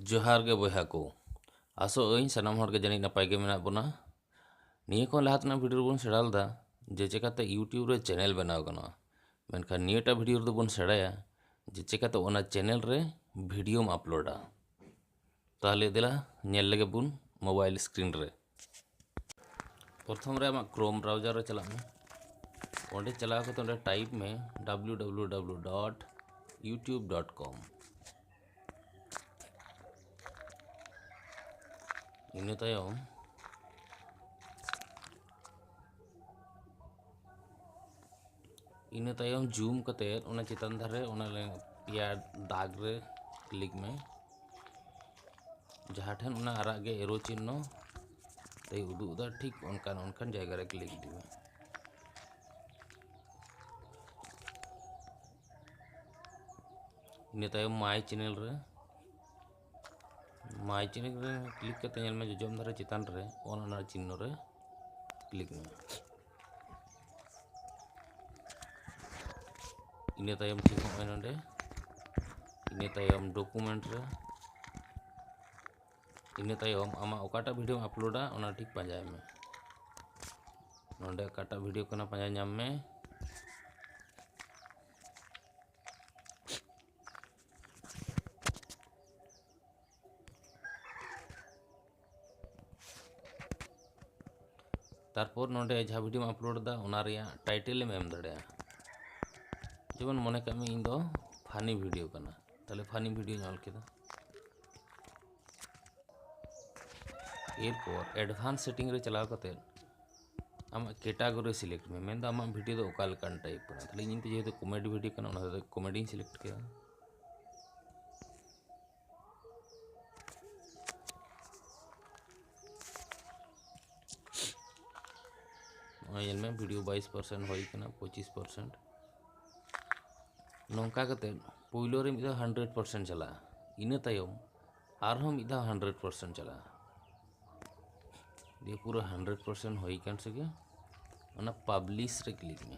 ᱡᱚᱦᱟᱨ ᱜᱮ ᱵᱚᱭᱦᱟ ᱠᱚ ᱟᱥᱚᱜ ᱟᱹᱧ ᱥᱟᱱᱟᱢ ᱦᱚᱲ ᱜᱮ ᱡᱟᱹᱱᱤᱡ ᱱᱟᱯᱟᱭ ᱜᱮ ᱢᱮᱱᱟᱜ ᱵᱚᱱᱟ ᱱᱤᱭᱟᱹ ᱠᱷᱚᱱ ᱞᱟᱦᱟ ᱛᱮᱱᱟᱜ ᱵᱷᱤᱰᱤᱭᱳ ᱨᱮᱵᱚᱱ ᱥᱮᱬᱟ ᱞᱮᱫᱟ ᱡᱮ ᱪᱮᱠᱟᱛᱮ ᱤᱭᱩᱴᱤᱭᱩᱵᱽ ᱨᱮ ᱪᱮᱱᱮᱞ ᱵᱮᱱᱟᱣ ᱜᱟᱱᱚᱜᱼᱟ ᱢᱮᱱᱠᱷᱟᱱ ᱱᱤᱭᱟᱹᱴᱟᱜ ᱵᱷᱤᱰᱤᱭᱳ ᱨᱮᱫᱚ ᱵᱚᱱ ᱥᱮᱬᱟᱭᱟ ᱡᱮ ᱪᱮᱠᱟᱛᱮ ᱚᱱᱟ ᱪᱮᱱᱮᱞ ᱨᱮ ᱵᱷᱤᱰᱤᱭᱳᱢ ᱟᱯᱞᱳᱰᱟ ᱛᱟᱦᱚᱞᱮ ᱫᱮᱞᱟ ᱧᱮᱞ ᱞᱮᱜᱮ ᱵᱚᱱ ᱢᱳᱵᱟᱭᱤᱞ ᱥᱠᱨᱤᱱ ᱨᱮ ᱯᱨᱚᱛᱷᱚᱢ ᱨᱮ ᱟᱢᱟᱜ ᱠᱨᱳᱢ ᱵᱨᱟᱣᱡᱟᱨ ᱨᱮ ᱪᱟᱞᱟᱜ ᱢᱮ ᱚᱸᱰᱮ ᱪᱟᱞᱟᱣ ᱠᱟᱛᱮ ᱚᱸᱰᱮ ᱴᱟᱭᱤᱯ ᱢᱮ W W W dot YouTube dot com ᱤᱱᱟᱹ ᱛᱟᱭᱚᱢ ᱤᱱᱟᱹ ᱛᱟᱭᱚᱢ ᱡᱩᱢ ᱠᱟᱛᱮᱫ ᱚᱱᱟ ᱪᱮᱛᱟᱱ ᱫᱷᱟᱨᱮ ᱚᱱᱟ ᱯᱮᱭᱟ ᱫᱟᱜᱽ ᱨᱮ ᱠᱞᱤᱠ ᱢᱮ ᱡᱟᱦᱟᱸ ᱴᱷᱮᱱ ᱚᱱᱟ ᱟᱨᱟᱜ ᱜᱮ ᱮᱨᱳ ᱪᱤᱱᱦᱚ ᱛᱮᱭ ᱩᱫᱩᱜ ᱮᱫᱟ ᱴᱷᱤᱠ ᱚᱱᱠᱟᱱ ᱚᱱᱠᱟᱱ ᱡᱟᱭᱜᱟ ᱨᱮ ᱠᱞᱤᱠ ᱤᱫᱤ ᱢᱮ ᱤᱱᱟᱹ ᱛᱟᱭᱚᱢ ᱢᱟᱭ ᱪᱮᱱᱮᱞ ᱨᱮ ᱢᱟᱭ ᱪᱮᱱᱮᱞ ᱨᱮ ᱠᱞᱤᱠ ᱠᱟᱛᱮ ᱧᱮᱞ ᱢᱮ ᱡᱚᱡᱚᱢ ᱫᱷᱟᱨᱮ ᱪᱮᱛᱟᱱ ᱨᱮ ᱚᱱ ᱚᱱᱟ ᱪᱤᱱᱦᱚ ᱨᱮ ᱠᱞᱤᱠ ᱢᱮ ᱤᱱᱟᱹ ᱛᱟᱭᱚᱢ ᱴᱷᱤᱠ ᱱᱚᱜᱼᱚᱭ ᱱᱚᱰᱮ ᱤᱱᱟᱹ ᱛᱟᱭᱚᱢ ᱰᱚᱠᱩᱢᱮᱱᱴ ᱨᱮ ᱤᱱᱟᱹ ᱛᱟᱭᱚᱢ ᱟᱢᱟᱜ ᱚᱠᱟᱴᱟᱜ ᱵᱷᱤᱰᱤᱭᱳᱢ ᱟᱯᱞᱳᱰᱟ ᱚᱱᱟ ᱴᱷᱤᱠ ᱯᱟᱸᱡᱟᱭ ᱢᱮ ᱱᱚᱰᱮ ᱚᱠᱟᱴᱟᱜ ᱵᱷᱤᱰᱤᱭᱳ ᱠᱟᱱᱟ ᱯᱟᱸᱡᱟ ᱧᱟᱢ ᱢᱮ ᱛᱟᱨᱯᱚᱨ ᱱᱚᱰᱮ ᱡᱟᱦᱟᱸ ᱵᱷᱤᱰᱤᱭᱳᱢ ᱟᱯᱞᱳᱰ ᱮᱫᱟ ᱚᱱᱟ ᱨᱮᱭᱟᱜ ᱴᱟᱭᱴᱮᱞ ᱮᱢ ᱮᱢ ᱫᱟᱲᱮᱭᱟᱜᱼᱟ ᱡᱮᱢᱚᱱ ᱢᱚᱱᱮ ᱠᱟᱜ ᱢᱮ ᱤᱧ ᱫᱚ ᱯᱷᱟᱱᱤ ᱵᱷᱤᱰᱤᱭᱳ ᱠᱟᱱᱟ ᱛᱟᱦᱞᱮ ᱯᱷᱟᱱᱤ ᱵᱷᱤᱰᱤᱭᱳᱧ ᱚᱞ ᱠᱮᱫᱟ ᱮᱨᱯᱚᱨ ᱮᱰᱵᱷᱟᱱᱥ ᱥᱮᱴᱤᱝ ᱨᱮ ᱪᱟᱞᱟᱣ ᱠᱟᱛᱮᱫ ᱟᱢᱟᱜ ᱠᱮᱴᱟᱜᱚᱨᱤ ᱥᱤᱞᱮᱠᱴ ᱢᱮ ᱢᱮᱱᱫᱚ ᱟᱢᱟᱜ ᱵᱷᱤᱰᱤᱭᱳ ᱫᱚ ᱚᱠᱟ ᱞᱮᱠᱟᱱ ᱴᱟᱭᱤᱯ ᱠᱟᱱᱟ ᱛᱟᱦᱞᱮ ᱤᱧ ᱫᱚ ᱡᱮᱦᱮᱛᱩ ᱠᱚᱢᱮᱰᱤ ᱵᱷᱤᱰᱤᱭᱳ ᱠᱟᱱᱟ ᱚᱱᱟ ᱫᱚ ᱠᱚᱢᱮᱰᱤᱧ ᱥᱤᱞᱮᱠᱴ ᱠᱮᱫᱟ ᱧᱮᱞ ᱢᱮ ᱵᱷᱤᱰᱤᱭᱳ ᱵᱟᱭᱤᱥ ᱯᱟᱨᱥᱮᱱᱴ ᱦᱩᱭ ᱠᱟᱱᱟ ᱯᱚᱸᱪᱤᱥ ᱯᱟᱨᱥᱮᱱᱴ ᱱᱚᱝᱠᱟ ᱠᱟᱛᱮᱫ ᱯᱳᱭᱞᱳ ᱨᱮ ᱢᱤᱫ ᱫᱷᱟᱣ ᱦᱟᱱᱰᱨᱮᱰ ᱯᱟᱨᱥᱮᱱᱴ ᱪᱟᱞᱟᱜᱼᱟ ᱤᱱᱟᱹ ᱛᱟᱭᱚᱢ ᱟᱨᱦᱚᱸ ᱢᱤᱫ ᱫᱷᱟᱣ ᱦᱟᱱᱰᱨᱮᱰ ᱯᱟᱨᱥᱮᱱᱴ ᱪᱟᱞᱟᱜᱼᱟ ᱫᱤᱭᱮ ᱯᱩᱨᱟᱹ ᱦᱟᱱᱰᱨᱮᱰ ᱯᱟᱨᱥᱮᱱᱴ ᱦᱩᱭ ᱠᱟᱱ ᱥᱮᱜᱮ ᱚᱱᱟ ᱯᱟᱵᱽᱞᱤᱥ ᱨᱮ ᱠᱞᱤᱠ ᱢᱮ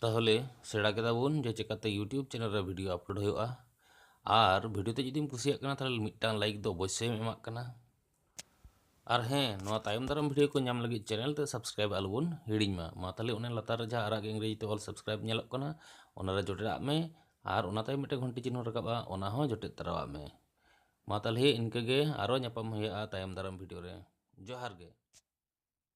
ᱛᱟᱦᱚᱞᱮ ᱥᱮᱬᱟ ᱠᱮᱫᱟ ᱵᱚᱱ ᱡᱮ ᱪᱮᱠᱟᱛᱮ ᱤᱭᱩᱴᱤᱭᱩᱵᱽ ᱪᱮᱱᱮᱞ ᱨᱮ ᱵᱷᱤᱰᱤᱭᱳ ᱟᱯᱞᱳᱰ ᱦᱩᱭᱩᱜᱼᱟ ᱟᱨ ᱵᱷᱤᱰᱤᱭᱳ ᱛᱮ ᱡᱩᱫᱤᱢ ᱠᱩᱥᱤᱭᱟᱜ ᱠᱟᱱᱟ ᱛᱟᱦᱚᱞᱮ ᱢᱤᱫᱴᱟᱝ ᱞᱟᱭᱤᱠ ᱫᱚ ᱚᱵᱚᱥᱥᱳᱭᱮᱢ ᱮᱢᱟᱜ ᱠᱟᱱᱟ ᱟᱨ ᱦᱮᱸ ᱱᱚᱣᱟ ᱛᱟᱭᱚᱢ ᱫᱟᱨᱟᱢ ᱵᱷᱤᱰᱤᱭᱳ ᱠᱚ ᱧᱟᱢ ᱞᱟᱹᱜᱤᱫ ᱪᱮᱱᱮᱞ ᱛᱮ ᱥᱟᱵᱥᱠᱨᱟᱭᱤᱵᱽ ᱟᱞᱚᱵᱚᱱ ᱦᱤᱲᱤᱧ ᱢᱟ ᱢᱟ ᱛᱟᱦᱚᱞᱮ ᱚᱱᱮ ᱞᱟᱛᱟᱨ ᱨᱮ ᱡᱟᱦᱟᱸ ᱟᱨᱟᱜ ᱤᱝᱨᱮᱡᱤ ᱛᱮ ᱚᱞ ᱥᱟᱵᱥᱠᱨᱟᱭᱤᱵᱽ ᱧᱮᱞᱚᱜ ᱠᱟᱱᱟ ᱚᱱᱟᱨᱮ ᱡᱚᱴᱮᱫᱟᱜ ᱢᱮ ᱟᱨ ᱚᱱᱟ ᱛᱟᱭᱚᱢ ᱢᱤᱫᱴᱮᱱ ᱜᱷᱚᱱᱴᱤ ᱪᱤᱱᱦᱟᱹ ᱨᱟᱠᱟᱵᱼᱟ ᱚᱱᱟ ᱦᱚᱸ ᱡᱚᱴᱮᱫ ᱛᱟᱨᱟᱣᱟᱜ ᱢᱮ ᱢᱟ ᱛᱟᱦᱚᱞᱮ ᱤᱱᱠᱟᱹᱜᱮ ᱟᱨᱚ ᱧᱟᱯᱟᱢ ᱦᱩᱭᱩᱜᱼᱟ ᱛᱟᱭᱚᱢ ᱫᱟᱨᱟᱢ ᱵᱷᱤᱰᱤᱭᱳ ᱨᱮ ᱡᱚᱦᱟᱨ ᱜᱮ